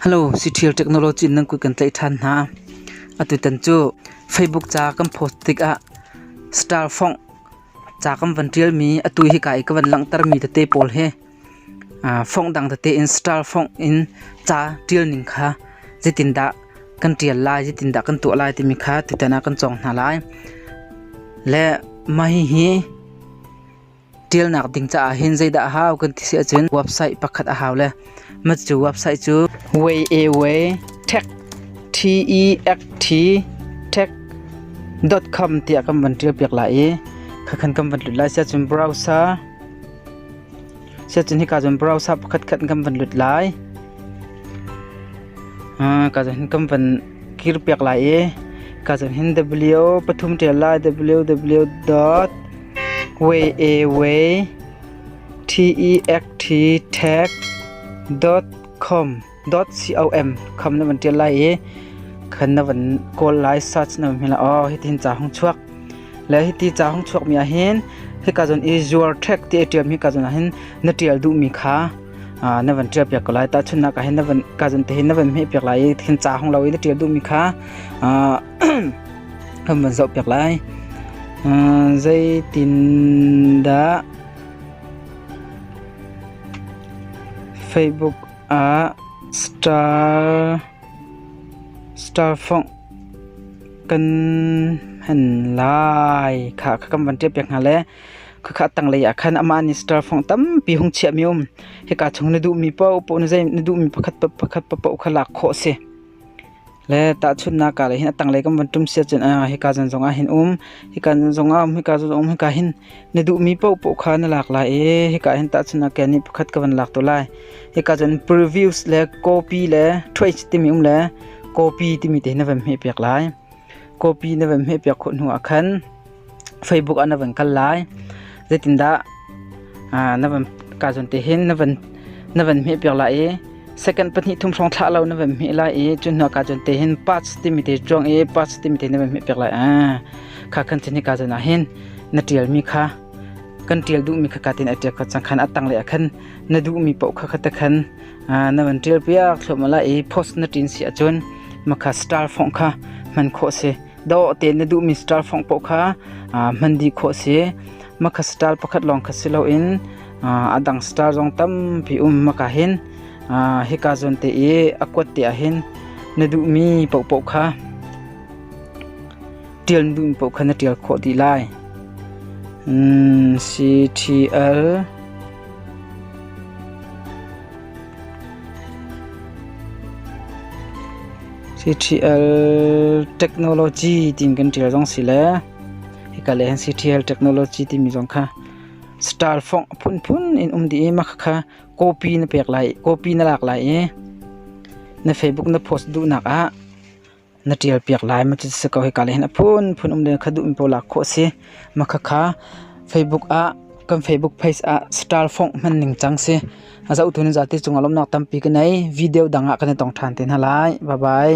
Hello, Siṭhial Technology nan kut kan tlaih ṭhan hna. Atutan cu Facebook ca kan post tikah star fongh ca kan van ṭialmi atu hika i ka van langhtermi tete pawl hi fongh dang tete in star fongh in ca ṭialning kha zeitindah kan ṭial lai, zeitindah kan tuah lai timi kha tutan ah kan cawng hna lai. Le mah hihi Ṭialnak ding caah hin zeidah a hau kan ti si ahcun website pakhat a hau le mah cu website cu wayawe.tech.tech.com tiah kan van ṭial piak lai i khakhan kan van lut lai siahcun browser siahcun hika cun browser pakhat khat in kan van lut lai kaa cun kan van kir piak lai i ka cun hin w pathum ṭial lai ww dot way a way t e x t tag dot com dot com kham na van ṭial lai i khan na van kawl lai search na hmila aw hitin ca hong chuak le hiti ca hong chuak mi ah hin hika zon i zuar track ti ṭiam hi ka zon ah hin na ṭial duh mi kha na van ṭial piak ko lai tahchunhnak ah hin na van ka zan te hin na van hmeh piak lai i hin ca hong lo i na ṭial duhmi kha kan van zoh piak lai zeitindah Facebook ah star star phone kan han lai kha kan van ṭial piak hna le khakha tanglei ah khan amah minister phong tampi hung chiahmi um hika chung na duhmi paoh paoh na zei na duhmi pakhat pakhat paoh kha lak khawh si le tahchunnak ka le hin atanglei kan van tum sia chin a hika zan zong ah hin um hika zan zong ah um hika zan um hika hin na duh mi po po kha na lak lai e hika hin tahchunnak ke ni pakhat ka van lak to lai hika zan previews le copy le trace timi um le copy timi te na van hme pek lai Copy na van hmehpiak khawh hnu ah khan Facebook ah na van kal lai. Zeitindah na van ka zawn te hin na van na van hmehpiak lai i second pahnih thum hrawng thlah lo na van hmeh lai i cun hnuah ka zawn te hin parts timi te chuang i parts timi te na van hmehpiak lai a kha khan chin hi ka zawn ah hin na tialmi kha kan tial duhmi kha ka tin a tial kha cang khan a tang le a khan na duhmi paoh kha kha ta khan na van ṭialpiak thluahmah lai i post na ṭin si ahcun makha star fongh kha hman khawh a si dawh tein na duhmi star fongh paoh kha hman dih khawh a si makha star pakhat lawng kha si loin a dang star zong tampi um maka hin hika zawn te i a kuat te ah hin na duhmi paohpaoh kha ṭial na duhmi paoh kha na ṭial khawh dih lai CTL CTL technology tiin kan tial zong si le hika le hin CTL technology timi zong kha star phong phunphun in um di i maka kha copy na pek lai copy na lak lai i na facebook na post duhnak ah na ṭialpiak lai ma ti si ko hika le hin a phunphun um len kha duh mi pawl lak khawh a si. Makhakha Facebook ah kan Facebook page ah star fong hman ning cang si. A zohtu ni zati cungah lawmnak tampi ka nei. Video dang ah kan i tong ṭhan te hna lai. Bye bye.